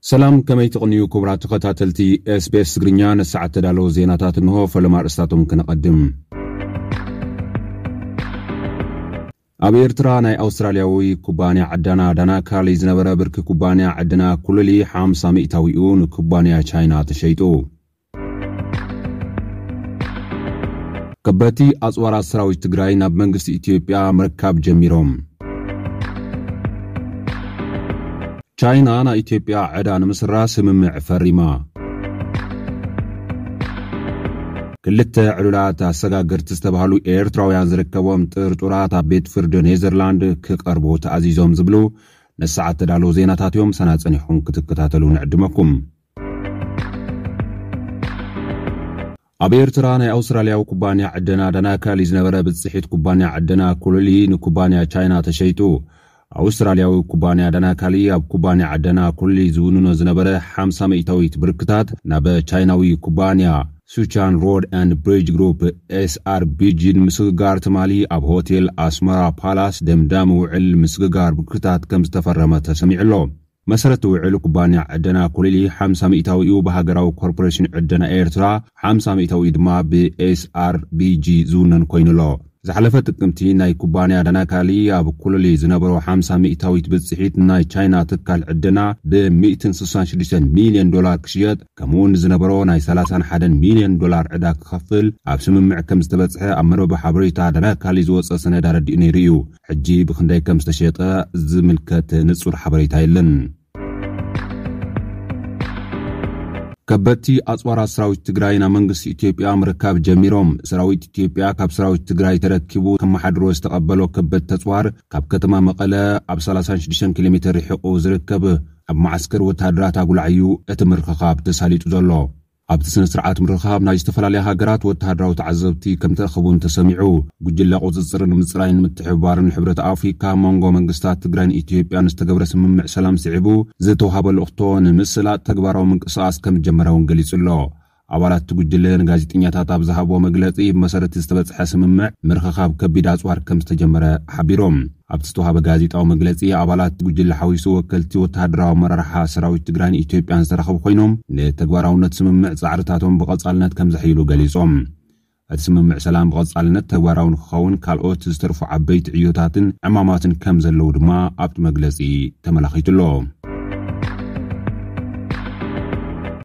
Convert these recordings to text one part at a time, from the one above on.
ሰላም ከመይ ትቕንዩ ክቡራት ተኸታተልቲ ኤስቤስ ትግርኛ ንሰዓት ተዳለዉ ዜናታት እንሆ ፈለማ ኣርእስታቶም ክነቐድም ኣብ ኤርትራ ናይ ኣውስትራልያዊ ኩባንያ ዕደና ዳናካሊ ዝነበረ ብርኪ ኩባንያ ዕደና ኩሉሊ ሓምሳ ሚእታዊኡ ንኩባንያ ቻይና ተሸይጡ ከበድቲ ኣፅዋራት ሰራዊት ትግራይ ናብ መንግስቲ ኢትዮጵያ ምርካብ ጀሚሮም። ቻይና ናይ ኢትዮጵያ ዕዳ ንምስራ ስምምዕ ፈሪማ። ክልተ ዕሉላት ኣሰጋገርቲ ዝተባህሉ ኤርትራውያን ዝርከቦም ጥርጡራት ኣብ ቤት ፍርዲ ኔዘርላንድ ክቐርቡ ተኣዚዞም ዝብሉ ነሰዓት ተዳለዉ ዜናታት እዮም። ሰና ፀኒሕኹም ክትከታተሉ ንዕድመኩም። ኣብ ኤርትራ ናይ ኣውስትራልያዊ ኩባንያ ዕደና ዳናካሊ ዝነበረ ብጽሒት ኩባንያ ዕደና ኩሉሊ ንኩባንያ ቻይና ተሸይጡ። ኣውስትራልያዊ ኩባንያ ዳናካሊ ኣብ ኩባንያ ዕደና ኩሉሊ ዝውንኖ ዝነበረ ሓምሳ ሚእታዊት ብርክታት ናብ ቻይናዊ ኩባንያ ሱቻን ሮድ ኣንድ ብሪጅ ግሩፕ ኤስኣርቢጂ ንምስግጋር ትማሊ ኣብ ሆቴል ኣስመራ ፓላስ ደምዳሚ ውዕል ምስግጋር ብርክታት ከምዝተፈረመ ተሰሚዑ ኣሎ። መሰረት ውዕል ኩባንያ ዕደና ኮሊሊ ሓምሳ ሚእታዊኡ ብሃገራዊ ኮርፖሬሽን ዕደና ኤርትራ ሓምሳ ሚእታዊኡ ድማ ብኤስኣርቢጂ ዝውነን ኮይኑ ኣሎ። ዝሓለፈ ጥቅምቲ ናይ ኩባንያ ዳናካሊ ኣብ ኮሊሊ ዝነበሮ ሓምሳ ሚእታዊት ብጽሒት ንናይ ቻይና ትካል ዕደና ብሚእትን ስሳን ሽዱሽተን ሚልዮን ዶላር ክሽየጥ ከምኡ'ውን ንዝነበሮ ናይ ሰላሳን ሓደን ሚልዮን ዶላር ዕዳ ክኸፍል ኣብ ስምምዕ ከምዝተበጽሐ ኣብ መርበብ ሓበሬታ ዳናካሊ ዝወጸ ሰነድ ኣረዲኡ ነይሩ እዩ። ሕጂ ብኽንደይ ከም ዝተሸጠ ዝምልከት ንጹር ሓበሬታ የለን። ከበድቲ ኣፅዋራት ሰራዊት ትግራይ ናብ መንግስቲ ኢትዮጵያ ምርካብ ጀሚሮም። ሰራዊት ኢትዮጵያ ካብ ሰራዊት ትግራይ ተረኪቡ ከመሓድሮ ዝተቐበሎ ከበድቲ ተፅዋር ካብ ከተማ መቐለ ኣብ 36 ኪሎ ሜትር ርሒቑ ዝርከብ ኣብ መዓስከር ወተሃደራት ኣጉላዕ እዩ እቲ ምርኽኻብ ተሳሊጡ ዘሎ። ኣብቲ ስነ ስርዓት ምርኻብ ናይ ዝተፈላለያ ሃገራት ወተሃደራዊ ተዓዘብቲ ከምተእኸቡን ተሰሚዑ። ጉጅለ ቁፅፅርን ምፅራይን ምትሕብባርን ሕብረት ኣፍሪካ ኣብ መንጎ መንግስታት ትግራይን ኢትዮጵያን ዝተገብረ ስምምዕ ሰላም ስዒቡ ዝተውሃበ ልእኽቶ ንምስላጥ ተግባራዊ ምንቅስቓስ ከምዝጀመረ እውን ገሊፁ'ሎ። ኣባላት እቲ ጉጅለ ንጋዜጠኛታት ኣብ ዝሃብዎ መግለፂ ብመሰረት ዝተበፅሐ ስምምዕ ምርኽኻብ ከቢድ ኣፅዋር ከምዝተጀመረ ሓቢሮም። ኣብቲ ዝተዋህበ ጋዜጣዊ መግለፂ ኣባላት ጉጅለ ሓዊሱ ወከልቲ ወተሃደራዊ ኣመራርሓ ሰራዊት ትግራይን ኢትዮጵያን ዝተረኸቡ ኮይኖም ንተግባራውነት ስምምዕ ፃዕርታቶም ብቐፃልነት ከምዘሕይሉ ገሊፆም። እቲ ስምምዕ ሰላም ብቐፃልነት ተግባራዊ ንክኸውን ካልኦት ዝተርፉ ዓበይቲ ዕዮታትን ዕማማትን ከምዘለዉ ድማ ኣብቲ መግለፂ ተመላኺቱ'ሎ።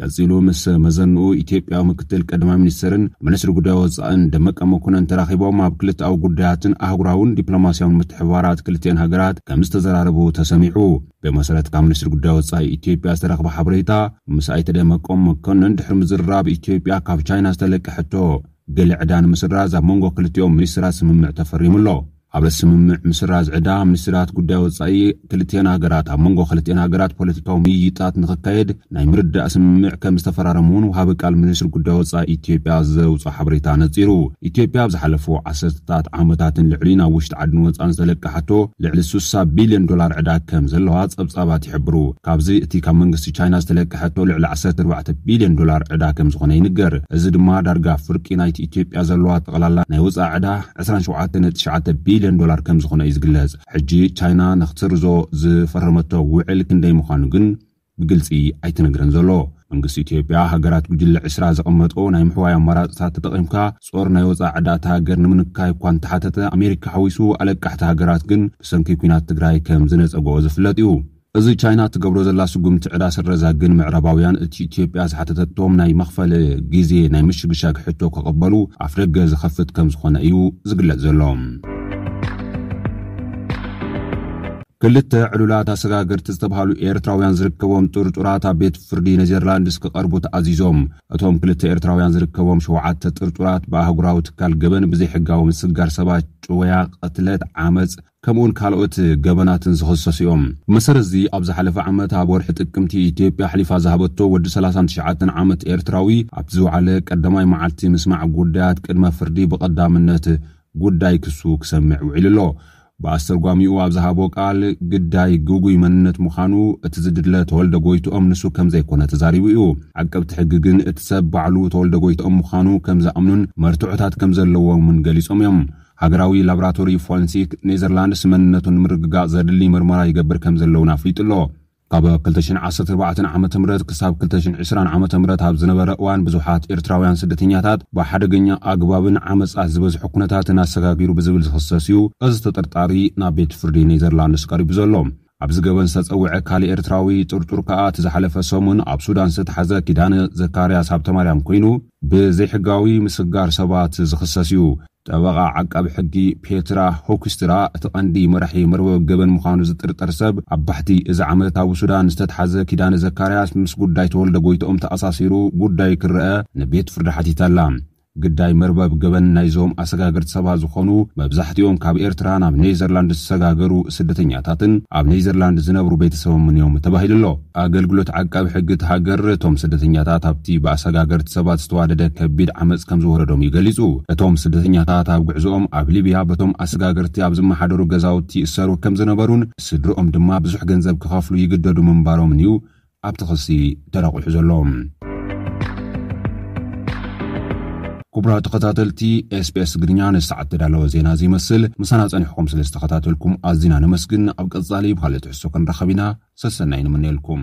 ቀጺሉ ምስ መዘንኡ ኢትዮጵያዊ ምክትል ቀዳማይ ሚኒስተርን ሚኒስትሪ ጉዳይ ወጻእን ደመቀ መኮነን ተራኺቦም ኣብ ክልተኣዊ ጉዳያትን ኣህጉራውን ዲፕሎማስያውን ምትሕብባራት ክልቲኤን ሃገራት ከም ዝተዘራረቡ ተሰሚዑ። ብመሰረት ካብ ሚኒስትሪ ጉዳይ ወጻኢ ኢትዮጵያ ዝተረኽበ ሓበሬታ፣ ምስ ኣይተ ደመቀ መኮነን ድሕሪ ምዝርራብ ኢትዮጵያ ካብ ቻይና ዝተለቀ ሕቶ ገለ ዕዳ ንምስራዝ ኣብ መንጎ ክልቲኦም ሚኒስተራት ስምምዕ ተፈሪሙ ኣሎ። ኣብ ስምምዕ ምስራዝ ዕዳ ሚኒስትራት ጉዳይ ወፃኢ ክልቲኤን ሃገራት ኣብ መንጎ ክልቲኤን ሃገራት ፖለቲካዊ ምይይጣት ንክካየድ ናይ ምርዳእ ስምምዕ ከም ዝተፈራረሙ እውን ውሃቢ ቃል ሚኒስትሪ ጉዳይ ወፃኢ ኢትዮጵያ ዘውፅኦ ሓበሬታ ነፂሩ። ኢትዮጵያ ኣብ ዝሓለፉ ዓሰርተታት ዓመታትን ልዕሊ ናብ ውሽጢ ዓድን ወፃእን ዝተለቀሓቶ ልዕሊ ስሳ ቢልዮን ዶላር ዕዳ ከም ዘለዋ ፀብፃባት ይሕብሩ። ካብዚ እቲ ካብ መንግስቲ ቻይና ዝተለቀሐቶ ልዕሊ ዓሰርተ ኣርባዕተ ቢልዮን ዶላር ዕዳ ከም ዝኾነ ይንገር። እዚ ድማ ዳርጋ ፍርቂ ናይቲ ኢትዮጵያ ዘለዋ ጠቕላላ ናይ ወፃኢ ዕዳ ዕስራን ሸውዓተ ነጥቢ ትሽዓተ ቢልዮን ዶላር ከምዝኾነ እዩ ዝግለጽ። ሕጂ ቻይና ንኽትስርዞ ዝፈረመቶ ውዕል ክንደይ ምዃኑ ግን ብግልጺ ኣይተነግረን ዘሎ። መንግስቲ ኢትዮጵያ፣ ሃገራት ጉጅለ ዕስራ ዘቐመጠኦ ናይ ምሕዋይ ኣማራጽታት ተጠቒምካ ጾር ናይ ወጻኢ ዕዳ እታ ሃገር ንምንካይ እኳ እንተሓተተ፣ ኣሜሪካ ሓዊሱ ኣለቃሕቲ ሃገራት ግን ብሰንኪ ኲናት ትግራይ ከም ዝነጸገኦ ዝፍለጥ እዩ። እዚ ቻይና እትገብሮ ዘላ ስጉምቲ ዕዳ ስረዛ ግን ምዕራባውያን እቲ ኢትዮጵያ ዝሓተተቶም ናይ መኽፈሊ ግዜ ናይ ምሽግሻግ ሕቶ ክቕበሉ ኣፍደገ ዝኸፍት ከምዝኾነ እዩ ዝግለጽ ዘሎ። ክልተ ዕሉላት ኣሰጋገርቲ ዝተብሃሉ ኤርትራውያን ዝርከቦም ጥርጡራት ኣብ ቤት ፍርዲ ኔዘርላንድስ ክቐርቡ ተኣዚዞም። እቶም ክልተ ኤርትራውያን ዝርከቦም ሸውዓተ ጥርጡራት ብኣህጉራዊ ትካል ገበን ብዘይሕጋዊ ምስጋር ሰባት፣ ጭወያ፣ ቅትለት፣ ዓመጽ፣ ከምኡ'ውን ካልኦት ገበናትን ዝኽሰሱ እዮም። ብመሰረት'ዚ ኣብ ዝሓለፈ ዓመት ኣብ ወርሒ ጥቅምቲ ኢትዮጵያ ኣሕሊፋ ዝሃበቶ ወዲ ሰላሳን ትሽዓተን ዓመት ኤርትራዊ ኣብቲ ዝወዓለ ቀዳማይ መዓልቲ ምስማዕ ጉዳያት ቅድመ ፍርዲ ብቐዳምነት ጉዳይ ክሱ ክሰምዕ ውዒሉ ኣሎ። ብኣስተርጓሚኡ ኣብ ዝሃቦ ቃል ግዳይ ግጉይ መንነት ምዃኑ እቲ ዝድለ ተወልደ ጎይትኦም ንሱ ከምዘይኮነ ተዛሪቡ እዩ። ዓቀብቲ ሕጊ ግን እቲ ሰብ ባዕሉ ተወልደ ጎይትኦም ምዃኑ ከምዝኣምኑን መርትዖታት ከምዘለዎምን ገሊጾም እዮም። ሃገራዊ ላብራቶሪ ፎረንሲክ ኔዘርላንድስ መንነቱ ንምርግጋጽ ዘድሊ መርመራ ይገብር ከምዘሎ'ውን ኣፍሊጡ ኣሎ። ካብ ክልተ ሽሕን ዓሰርተ ኣርባዕተን ዓመተ ምህረት ክሳብ ክልተ ሽሕን ዕስራን ዓመተ ምህረት ኣብ ዝነበረ እዋን ብዙሓት ኤርትራውያን ስደተኛታት ብሓደገኛ ኣግባብን ዓመጻት ዝበዝሖ ኩነታትን ኣሰጋጊሩ ብዝብል ዝኽሰስ'ዩ እዚ ተጠርጣሪ ናብ ቤት ፍርዲ ኔዘርላንድስ ቀሪቡ ዘሎ። ኣብዚ ገበን ዝተጸውዐ ካልእ ኤርትራዊ ጥርጡር ከኣ እቲ ዝሓለፈ ሰሙን ኣብ ሱዳን ዝተታሕዘ ኪዳነ ዘካርያስ ሃብተማርያም ኮይኑ ብዘይሕጋዊ ምስግጋር ሰባት ዝኽሰስ እዩ። ጠበቓ ዓቃቢ ሕጊ ፔትራ ሆክስትራ እቲ ቀንዲ መራሒ መርበብ ገበን ምዃኑ ዝጥርጠር ሰብ ኣብ ባሕቲ እዚ ዓመት ኣብ ሱዳን ዝተታሕዘ ኪዳነ ዘካርያስ ምስ ጉዳይ ተወልደ ጎይትኦም ተኣሳሲሩ ጉዳዩ ክረኣ ንቤት ፍርዲ ሓቲታ'ላ። ግዳይ መርበብ ገበን ናይዞም ኣሰጋገርቲ ሰባት ዝኾኑ መብዛሕቲኦም ካብ ኤርትራ ናብ ኔዘርላንድ ዝሰጋገሩ ስደተኛታትን ኣብ ኔዘርላንድ ዝነብሩ ቤተሰቦምን'ዮም ተባሂሉ'ሎ። ኣገልግሎት ዓቃቢ ሕጊ እታ ሃገር እቶም ስደተኛታት ኣብቲ ብኣሰጋገርቲ ሰባት ዝተዋደደ ከቢድ ዓመጽ ከምዝወረዶም'ዩ ገሊጹ። እቶም ስደተኛታት ኣብ ጉዕዞኦም ኣብ ሊብያ በቶም ኣሰጋገርቲ ኣብ ዝመሓደሩ ገዛውቲ ይእሰሩ ከምዝነበሩን ስድርኦም ድማ ብዙሕ ገንዘብ ክኸፍሉ ይግደዱ ምንባሮምን'ዩ ኣብቲ ክሲ ተረቝሑ ዘሎ። ክቡራት ተኸታተልቲ ኤስቢኤስ ትግርኛ ንሰዓት ተዳለወ ዜና እዚ ይመስል ምሳና ጸኒሕኩም ስለ ዝተኸታተልኩም ኣዝና ነመስግን ኣብ ቀጻሊ ብካልእ ትሕዝቶ ክንራኸብ ኢና ሰሰናይ ንምነየልኩም